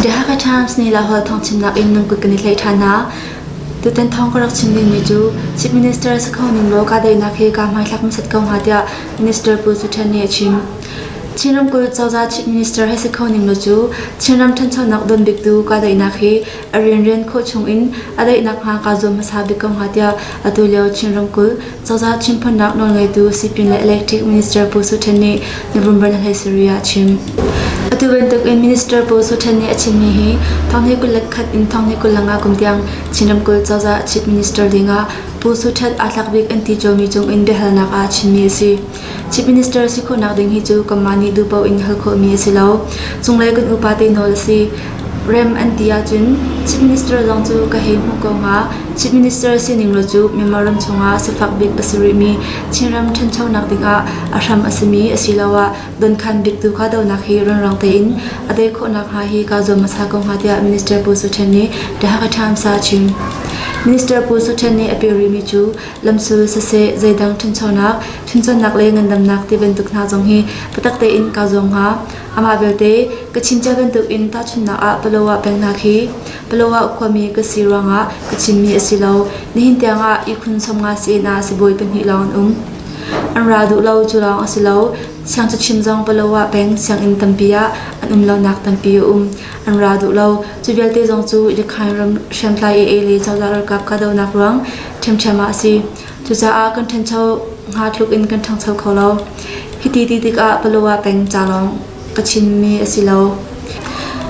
The Hakha Times nih Laholh thawngchimnak in nan kut kan i tlaih ṭhan hna. Tutan thawng ka rak chim dingmi cu Chief Minister si kho ning law kahdaihnak hi kaa hmaithlak hmasat ko hnga tiah Minister Pu Su Ṭhan nih a chim. Chin ramkulh cozah Chief Minister he si kho ning law cu Chinram ṭhanchonak don biktu kahdaihnak hi a rianrian khawh chung in a daihnak hnga kaa zuam hmasa bik ko hnga tiah atu lio Chin ramkulh Cozah chimphonnak nawlngeitu sipin le electric minister Pu Su Ṭhen nih November ni hlei sarih ah a chim. Atu bantukin Minister Pu Su Ṭhen nih a chimmi hi thong hi kul le khat in thong hi kul lang ah kum tiang Chin ramkulh cozah chief minister dingah Pu Su Ṭhat aa tlak bik an ti ṭulmi cungin biahalnak ah a chimmi a si. Chief Minister si khawhnak ding hi cu kanmah nih duh paoh in hal khawhmi a si lo. Cunglei kan upate nawl a si. Rem an ti ahcun Chief Minister zong cu ka hei hmuh ko hnga. Chief Minister sining lo cu Myanmar ram chungah sifak bik a si rihmi Chinram ṭhanchonak dingah a hram a simi asiloah donkhan bik tu kahdohnak hi runrang tein a tei khawhnak hnga hi kaa zuam hmasa ko hnga tiah Minister Pu Su Ṭhen nih The Hakha Times ah a chim. Minister Pu Su Ṭhen nih a pial rihmi cu lamsul siseh zeidang ṭhanchonak, ṭhanchonak le ngandamnak ti bantuk hna zong hi biatak tein kaa zuam hnga. Amah belte ka chincia bantukin tahchunhnak ah Paloah peng hna khi Paloah khuami ka si ruangah ka chimmi a si lo. Nihin tiangah ihkhun somnga sinah sibawi pahnih lawng an um. An ra duh lo cu lawng a si lo. Siangcachim zong Paloah peng sianginn tampi ah an um lonak tampi a um. an ra duh lo. Cu vialte zong cu Rakhine ram hriamtlai AA le cozah ralkap kahdohnak ruang ṭhiamṭhiam ah a si. Cucaah kan ṭhancho hnga tluk in kan ṭhangcho kho lo. Hiti ti tikah Palawa peng ca lawng ka chimmi a si lo.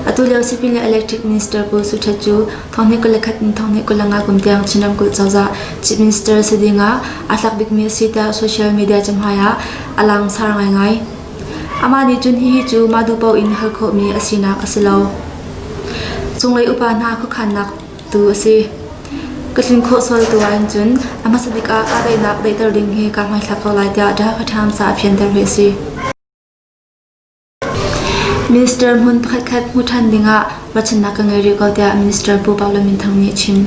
Atu lio sipin le electric minister Pu Su Htet cu thonghnek kul le khat in thonghnek kul le nga kum tiang Chin ramkulh cozah chief minister si ding ah a tlak bikmi a si tiah social media cahmai ah a langsar ngaingai. Amah nih cun hihi cu mah duh paoh in hal khawhmi a sinak a si lo. Cunglei upa hna khuakhannak tu a si. Ka tlin khawh sual tu ahhin cun a hmasa bik ah kahdohnak daihter ding hi kaa hmaithlak ko lai tiah Dhaka Times ah a fianter hi a si. Minister hmun pakhatkhat hmu ṭhan dingah ruahchannak ka ngei rih ko tiah Minister Pu Paul Min Thang nih a chim.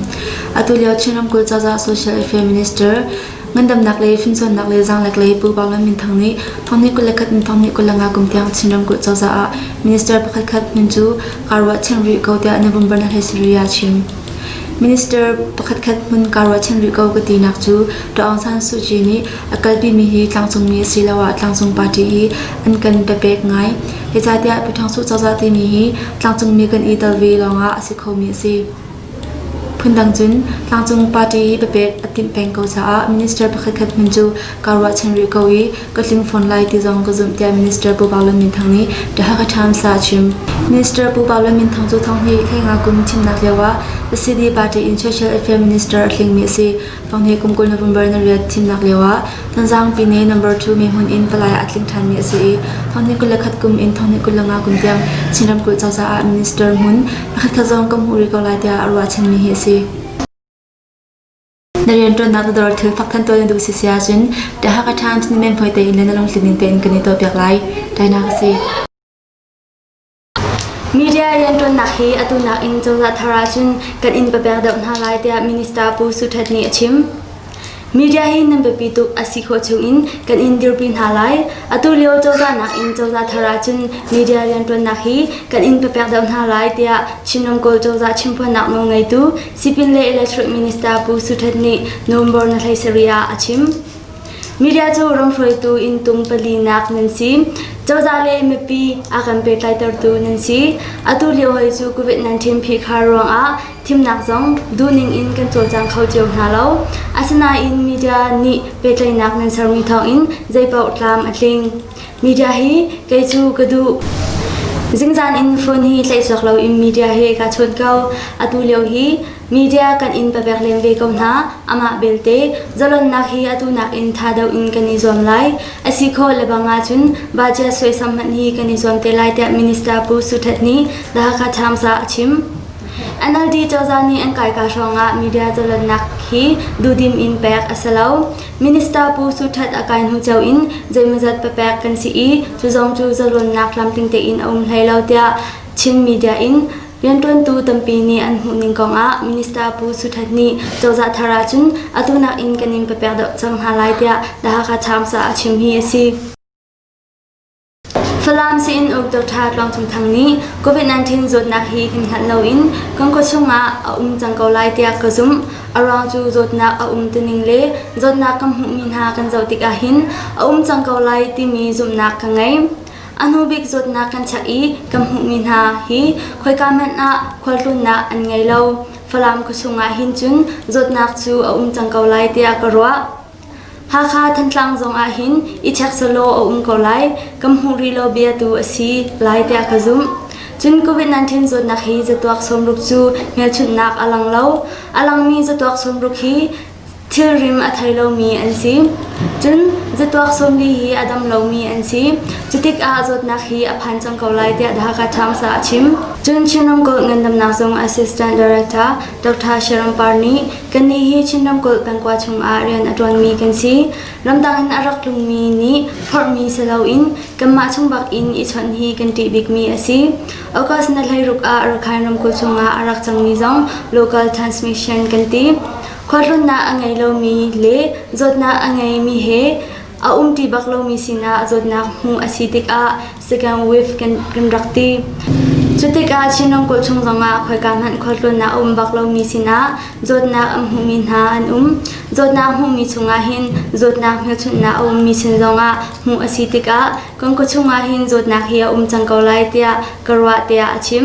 Atu lio Chin ramkulh cozah social affairs minister Ngandamnak le fimcawnnak le zaanglek le Pu Baung le Minthang nih thawngnih kul le khat in thawngnih kul le nga kum tiang Chinram kulh cozah ah minister pakhatkhat hmun cu kaa ruahchan rih ko tiah Novembernak he sarih ah chim. Minister pakhatkhat hmun kaa ruahchan rih ko ka tinak cu Dr. Aung San Suu Kyi nih a kalpimi hi tlangcungmi asiloah tlangcung party i an kan papek ngai. Hecatiah Pu Thang Suh cozah timi hi tlangcungmi kan i tel ve lawngah a si khomi a si. Phundang cun tlangcung party papek a timh peng ko caah minister pakhatkhat hmun cu kaa ruahchan rih ko i ka tling fawn lai ti zong ka zumh tiah Minister Pu Pau Lun Min Thang nih The Hakha Times ah a chim. Minister Pu Pau Lun Min Thang cu thong hi Khainga kum thimnak lioah the city party in social affairs minister a tlingmi a si. Fanghne kumkul November na rian thimnak lioah Thanzangpi ne number two mehmun in palai a tling ṭhanmi a si i Fanghne kul le khat kum in Fanghne kul le nga kum tiang Chin ramkulh cozah ah minister hmun pakhatkhat zong kan hmuh rih ko lai tiah a ruahchanmi hi a si. Na rianṭuannak na dor thil fak than tuah na duh si si ahcun ṭa haka ṭhan cun men phoi tein le na lungthin ning tein kan i tuahpiak lai. Tainak a si. Media rianṭuannak hi atu nakin cozah thar ahcun kan in papek deuh hna lai tiah Minister Pu Su Htet nih a chim. Media hi nan biapi tuk a si khawh chungin kan in dirpi hna lai. Atu lio cozah nakin cozah thar ahcun media rianṭuannak hi kan in papek deuh hna lai tiah Chin ramkulh cozah chimphuannak nawl ngeitu Sipin le Electric Minister Pu Su Htet nih November na hlei sarih ah a chim. Media cu ram hruaitu inntung palinak nan si. Cozah le mipi a kan pehtlaitertu nan si. Atu lio hoi cu COVID-19 phihkhar ruangah thimnak zong duhning in kan cawlcang kho cio hna lo. Asinain media nih pehtlaihnak nan sermi thawngin zeipaoh tlam a tling. Media hi kei cu ka duh. Zingzan in phone hi tlaihchuak loin media he kaa chawn ko. Atu lio hi Media kan in pabek len ve ko hna. Amah belte, zalonnak hi atu nakin tha deuh in kan i zuam lai. Asi kho lebang ahcun budget suaisam hmanh hi kan i zuam te lai tiah Minister Pu Su Htet nih The Hakha Times ah a chim. NLD cozah nih an kaika hrawngah media zalonnak hi duhdim in pek a si lo. Minister Pu Su Htet a kai hnu cio in zeimazat papek kan si i cu zong cu zalonnak lamtling tein a um hlei lo tiah Chin media in Rianṭuantu tampi nih an hmuhning kongah Minister Pu Su Htet nih cozah thar ahcun atu nakin kan in ka pek deuh cang hna lai tiah The Hakha Times ah a chim hi a si. Falam Sein Uk Dr. Tluang Cung Thang nih COVID-19 zawtnak hi hin hngalh loin kan khua chungah a um cang ko lai tiah ka zumh. A ruang cu zawtnak a um tuning le zawtnak kan hmuhmi hna kan zoh tikah hin a um cang ko lai timi zumhnak ka ngei. A hnubik zawtnak kan check i kan hmuhmi hna hi khoika hmanh ah khualtlawnnak an ngei lo. Falam khuachung ah hin cun zawtnak cu a um cang ko lai tiah ka ruah. Hakha Thantlang zong ah hin i check selaw a um ko lai. Kan hmuh rih lo bia tu a si lai tiah ka zumh. Cun COVID-19 zawtnak hi zatuak sawmruk cu hmelchunhnak a lang lo. A langmi zatuak sawmruk hi Thilrim a thei lomi an si. Cun zatuak sawmli hi a dam lomi an si. Cutikah zawtnak hi a phan cang ko lai tiah The Hakha Times ah a chim. Cun Chin Ramkulh Ngandamnak Zung Assistant Director Dr. Sharon Par nih kannih hi Chin Ramkulh pengkua chungah rian a ṭuanmi kan si. Ramdang in a rak tlungmi nih phorhmi si loin kanmah chung bak in i chawnh hi kan ṭih bikmi a si. August na hleiruk ah Rakhine ramkulh chungah a rak cangmi zong local transmission kan ti. Khuahlunnak a ngei lomi le zawtnak a ngeimi he a um ti bak lomi sinah zawtnak hmuh a si tikah second wave kan, kan rak ti. Cutikah Chin ramkulh chung zongah khoika hmanh khuahlunnak a um bak lomi sinah zawtnak a hmuhmi hna an um. Zawtnak hmuhmi chungah hin zawtnak hmelchunhnak a ummi sin zongah hmuh a si tikah Kan khuachung ah hin zawtnak hi a um cang ko lai tiah ka ruah tiah a chim.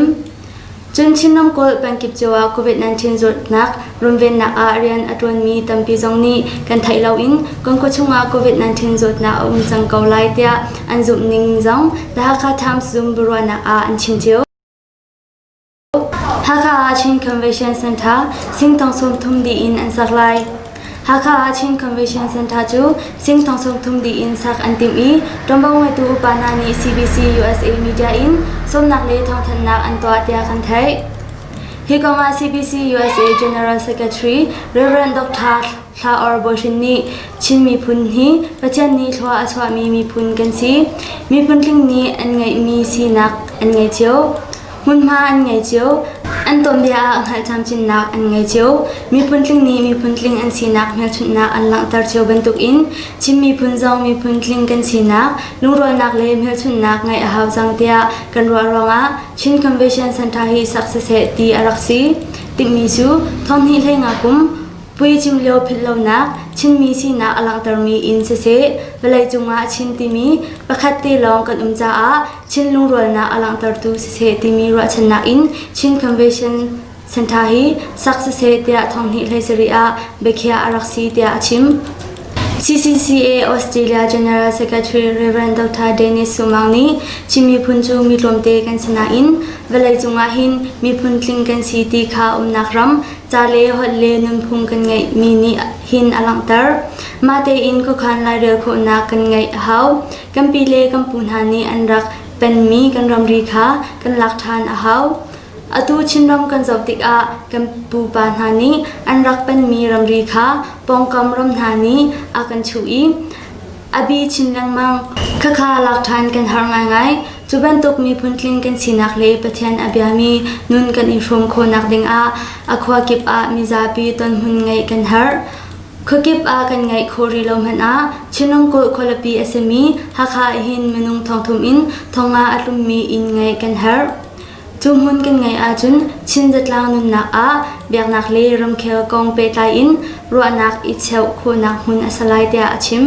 Cun Chin ramkulh pengkip cio ah COVID-19 zawtnak runvennak ah rian a ṭuanmi tampi zong nih kan theih loin kan khuachung ah COVID-19 zawtnak a um cang ko lai tiah an zumh ning zong The Hakha Times Zoom biaruahnak ah an chim cio. Hakha ah Chin Convention Center singthong sawmthum dih in an sak lai. Hakha ah Chin Convention Center cu singthong sawmthum dih in sak an timh i ṭuanvo ngeitu upa hna nih CBC USA media in sawmnak le thawngthanhnak an tuah tiah kan theih. Hi kong ah CBC USA General Secretary Reverend Dr. Hla Or Bo Shin nih Chin miphun hi Pathian nih thlua a chuahmi miphun kan si. Miphun tling nih an ngeihmi sinak an ngei cio. Hmunhma an ngei cio. An tuanbia ah hngalh camcinnak an ngei cio. Miphun tling nih miphun tling an sinak hmelchunhnak an langhter cio bantuk in Chin miphun zong miphun tling kan sinak, lungrualnak le hmelchunhnak ngeih a hau cang tiah kan ruah ruangah Chin Convention Center hi sak siseh ti a rak si. Timhmi cu thawmhnih hlei nga kum Pui cim lio philhlonak Chinmi sinak a langhtermi in siseh, vawlei cungah Chin timi pakhat te lawng kan um caah Chin lungrualnak a langhtertu siseh timi ruahchannak in Chin Convention Centre hi sak siseh tiah thonghnih hlei sarih ah biakhiah a rak si tiah a chim. CCCA Australia General Secretary Reverend Dr. Dennis Sumang nih Chin miphun cu mi tlawmte kan si nain vawlei cungah hin miphun tling kan si ti kha umnak ram, ca le holh le nunphung kan ngeihmi nih hin a langhter. Mah tein khuakhan lairel khawhnak kan ngeih a hau. Kan pile kan pu hna nih an rak penmi kan ramri kha kan lak ṭhan a hau. Atu Chinram kan zoh tikah kan pupa hna nih an rak penmi ramri kha pawngkam ram hna nih a kan chuh i a bi chin lengmang. Khakha lak ṭhan kan har ngaingai. Cu bantuk miphun tling kan sinak le Pathian a biami nun kan i hrum khawhnak dingah a khua kip ah mizapi tonhmun ngeih kan herh. Khuakip ah kan ngeih khawh rih lo hmanh ah Chinrangkulh khualipi a simi Hakha ahhin minung thongthum in thonga a tlummi inn ngeih kan herh. Cu hmun kan ngeih ahcun Chin zatlang nunnak ah biaknak le ramkhel kong pehtlai in ruahnak i cheuh khawhnak hmun a si lai tiah a chim.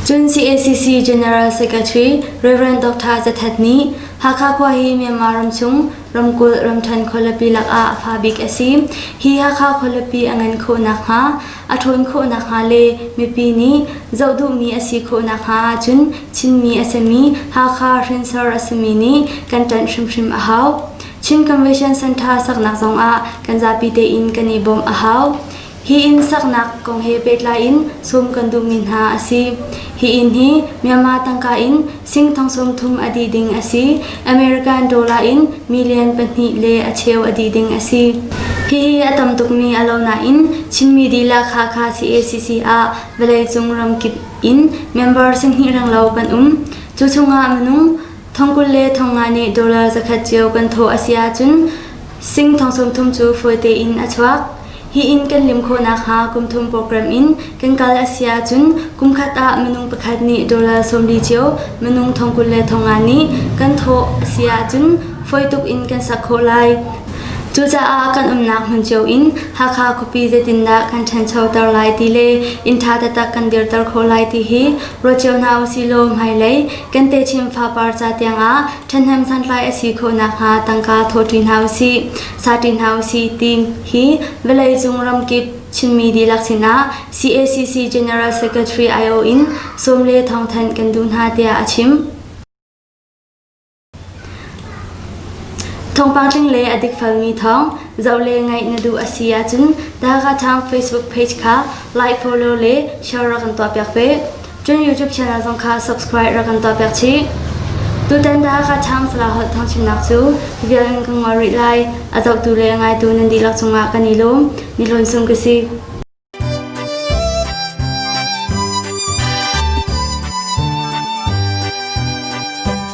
Cun CACC General Secretary Reverend Dr. Za Htet nih Hakha khua hi Myanmar ram chung Ramkulh Ramṭhen khualipi lakah a fabik a si. Hi Hakha khualipi a ngan khawh nakhnga, a ṭhawn khawh nakhnga le mipi nih zoh duhmi a si khawh nakhnga ahcun Chinmi a simi Hakha hrinsor a simi nih kan ṭanh hrimhrim a hau. Chin Convention Center saknak zongah kan zapi tein kan i bawmh a hau. Hi inn saknak kong he pehtlai in sawm kan duhmi hna a si. Hi inn hi Myanmar tangka in sing thong sawm thum a dih ding a si. American dollar in million pahnih le a cheu a dih ding a si. Hihi a tam tukmi a lo nain Chinmi dihlak Hakha CACC ah vawleicung ramkip in member sihnih renglo kan um. Cu chungah minung Thong kul le thong nga nih dollar zakhat cio kan thawh a si ahcun sing thong sawmthum cu fawi tein a chuak. Hi in kan lim khawh nakhnga kum thum program in kan kal a si ahcun kum khat ah minung pakhat nih dollar sawmli cio minung thong kul le thong nga nih kan thawh a si ahcun fawi tuk in kan sak khawh lai. Cucaah kan umnak hmun cio in Hakha khuapi zeitindah kan ṭhanchoter lai ti le inn ṭha taktak kan dirter khawh lai ti hi ruat cio hna u sihlaw hmailei Kan techin fapar ca tiangah ṭhathnem santlai a si khawh nakhnga tangka thawṭi hna u sih, sati hna u sih ti hi vawleicung ramkip Chinmi dihlak sinah CACC General Secretary aiawh in sawm le thong thanh kan duh hna tiah a chim. Thawngpang tling le a dikfelmi thawng zoh le ngaih na duh a si ahcun Takathang Facebook page kha like, follow le share rak kan tuahpiak ve. Cun YouTube channel zong kha subscribe rak kan tuahpiak chih. Tutan Takathang Salaholh thangchimnak cu vialan ka ngol rih lai. A zohtu le ngaitu nan dihlak cungah kan i lawm. Ni lawm sum ka si.